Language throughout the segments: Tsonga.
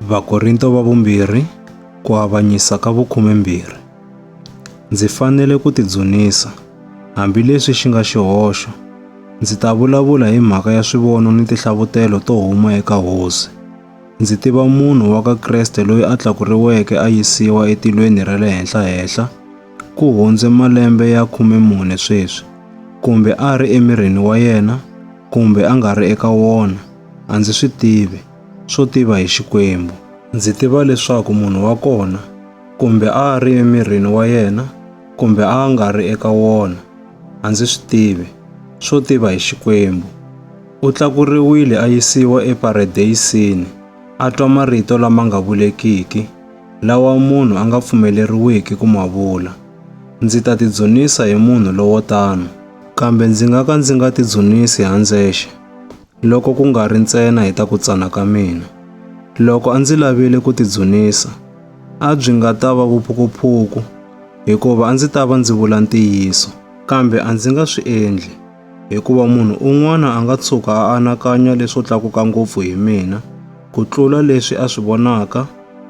Vakorinto va vumbirhi ku avanyisa ka vukhumembirhi. Ndzi fanele ku tidzunisa, hambileswi xi nga xihoxo. Ndzi ta vulavula hi mhaka ya swivono ni tihlavutelo to huma eka Hosi. Ndzi tiva munhu wa ka Kreste loyi a tlakuriweke a yisiwa etilweni ra le henhla-henhla ku hundze malembe ya khume mune sweswi, kumbe a ri emirini wa yena kumbe a nga ri eka wona, a ndzi swi tivi. swo tiva hi Xikwembu. Ndzi tiva leswaku munhu wa kona, kumbe a a ri emirini wa yena kumbe a a nga ri eka wona, a ndzi swi tivi, swo tiva hi Xikwembu, u tlakuriwile a yisiwa eParadeyisini a twa marito lama nga vulekiki, lawa munhu a nga pfumeleriwiki ku ma vula. Ndzi ta tidzunisa hi munhu lowo tano. Kambe ndzi nga ka ndzi nga tidzunisi handzexe. loko ku nga ri ntsena hi ta ku tsana ka mina. Loko a ndzi lavile ku tidzunisa, a byi nga ta va vuphukuphuku hikuva a ndzi ta va ndzi vula ntiyiso. Kambe a ndzi nga swi endli hikuva munhu un'wana a nga tshuka a anakanya leswo tlakuka ngopfu hi mina ku tlula leswi a swi vonaka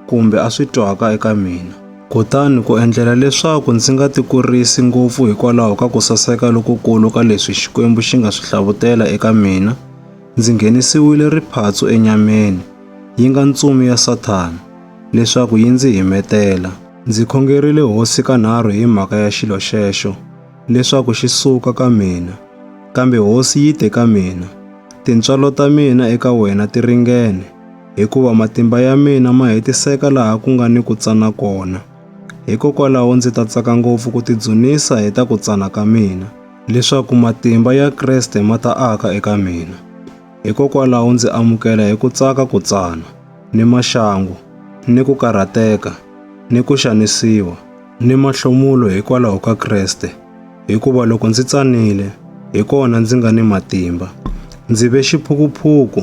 kumbe a swi twaka eka mina. Kutani ku endlela leswaku ndzi nga tikurisi ngopfu hikwalaho ka ku saseka lokukulu ka leswi Xikwembu xi nga swi hlavutela eka mina, ndzi nghenisiwile riphatsu enyameni, yi nga ntsumi ya Sathana, leswaku yi ndzi himetela. Ndzi khongerile Hosi kanharhu hi mhaka ya xilo xexo. leswaku xi suka ka mina. Kambe hosi yi te ka mina, Tintswalo ta mina eka wena ti ringene, hikuva matimba ya mina ma hetiseka laha ku nga ni ku tsana kona. Hikokwalaho ndzi ta tsaka ngopfu ku tidzunisa hi ta ku tsana ka mina, leswaku matimba ya Kreste ma ta aka eka mina. Hikokwalaho ndzi amukela hi ku tsaka ku tsana, ni maxangu, ni ku karhateka, ni ku xanisiwa, ni mahlomulo hikwalaho ka Kreste, hikuva loko ndzi tsanile, hi kona ndzi nga ni matimba. Ndzi ve xiphukuphuku,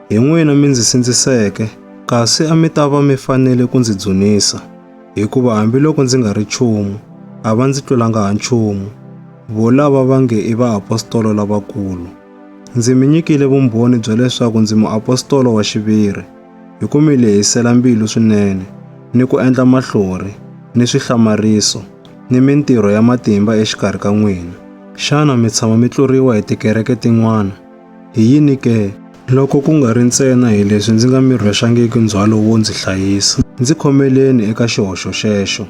hi n'wina mi ndzi sindziseke, kasi a mi ta va mi fanele ku ndzi dzunisa, hikuva hambiloko ndzi nga ri nchumu, a va ndzi tlulanga ha nchumu, volava va nge i vaapostolo lavakulu. Ndzi mi nyikile vumbhoni bya leswaku ndzi muapostolo wa xiviri. Hi ku mi lehisela mbilu swinene ni ku endla mahlori ni swihlamariso ni mintirho ya matimba exikarhi ka n'wina. Xana mi tshama mi tluriwa hi tikereke tin'wana? Hi yini ke? Loko ku nga ri ntsena hi leswi ndzi nga mi rhwexangiki ndzhwalo wo ndzi hlayisa, ndzi khomeleni eka xihoxo xexo.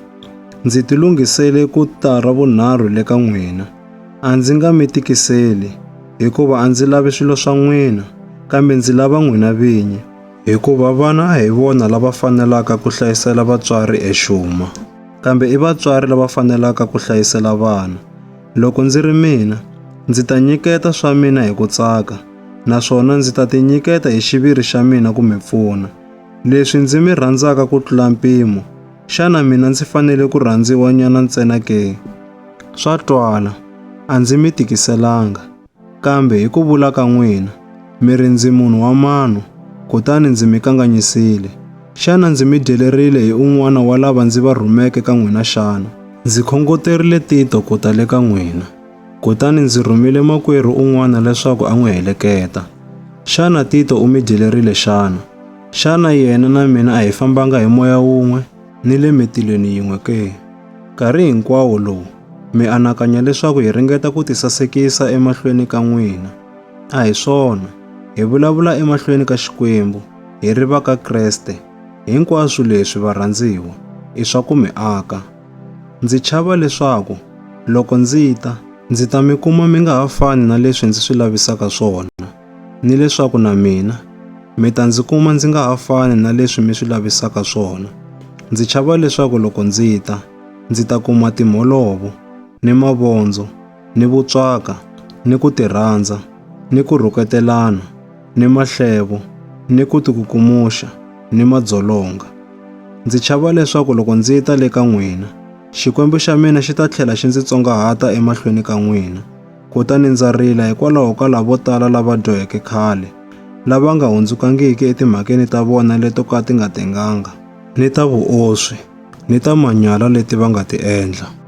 Ndzi tilunghisele ku ta ravunharhu le ka n'wina. A ndzi nga mi tikiseli, hikuva a ndzi lavi swilo swa n'wina, kambe ndzi lava n'wina vinyi, hikuva vana a hi vona lava fanelaka ku hlayisela vatswari exuma, kambe i vatswari lava fanelaka ku hlayisela vana. Loko ndzi ri mina, ndzi ta nyiketa swa mina hi ku tsaka, naswona ndzi ta tinyiketa hi xiviri xa mina ku mi pfuna, leswi ndzi mi rhandzaka ku tlula mpimo, Xana mina ndzi fanele ku rhandziwa nyana ntsena ke? Swa twala, a ndzi mi tikiselanga. Kambe hi ku vula ka n'wina, mi ri ndzi munhu wa mano, kutani ndzi mi kanganyisile. Xana ndzi mi dyelerile hi un'wana wa lava ndzi va rhumeke ka n'wina xana? Ndzi khongoterile Tito ku ta le ka n'wina, kutani ndzi rhumile makwerhu un'wana leswaku a n'wi heleketa. Xana Tito u mi dyelerile xana? Xana yena na mina a hi fambanga hi moya wun'we ni le mitilweni yin'we ke? Nkarhi hinkwawo lowu mi anakanya leswaku hi ringeta ku tisasekisa emahlweni ka n'wina. A hi swona, hi vulavula emahlweni ka Xikwembu, hi ri va ka Kreste. Hinkwaswo leswi, varhandziwa, i swa ku mi aka. Ndzi chava leswaku loko ndzi ta, ndzi ta mi kuma mi nga ha fani na leswi ndzi swi lavisaka swona. ni leswaku na mina mi ta ndzi kuma ndzi nga ha fani na leswi mi swi lavisaka swona. Ndzi chava leswaku loko ndzi ta, ndzi ta kuma timholovo, ni mavondzo, ni vutswaka, ni ku tirhandza, ni ku rhuketelana, ni mahlevo, ni ku tikukumuxa, ni madzolonga. Ndzi chava leswaku loko ndzi ta le ka n'wina, Xikwembu xa mina xi ta tlhela xi ndzi tsongahata emahlweni ka n'wina, Kutani ndza rila hikwalaho ka lavo tala lava dyoheke khale, lava nga hundzukangiki etimhakeni ta vona leto ka ti nga tenganga, ni ta vuoswi, ni ta manyala leti va nga ti endla.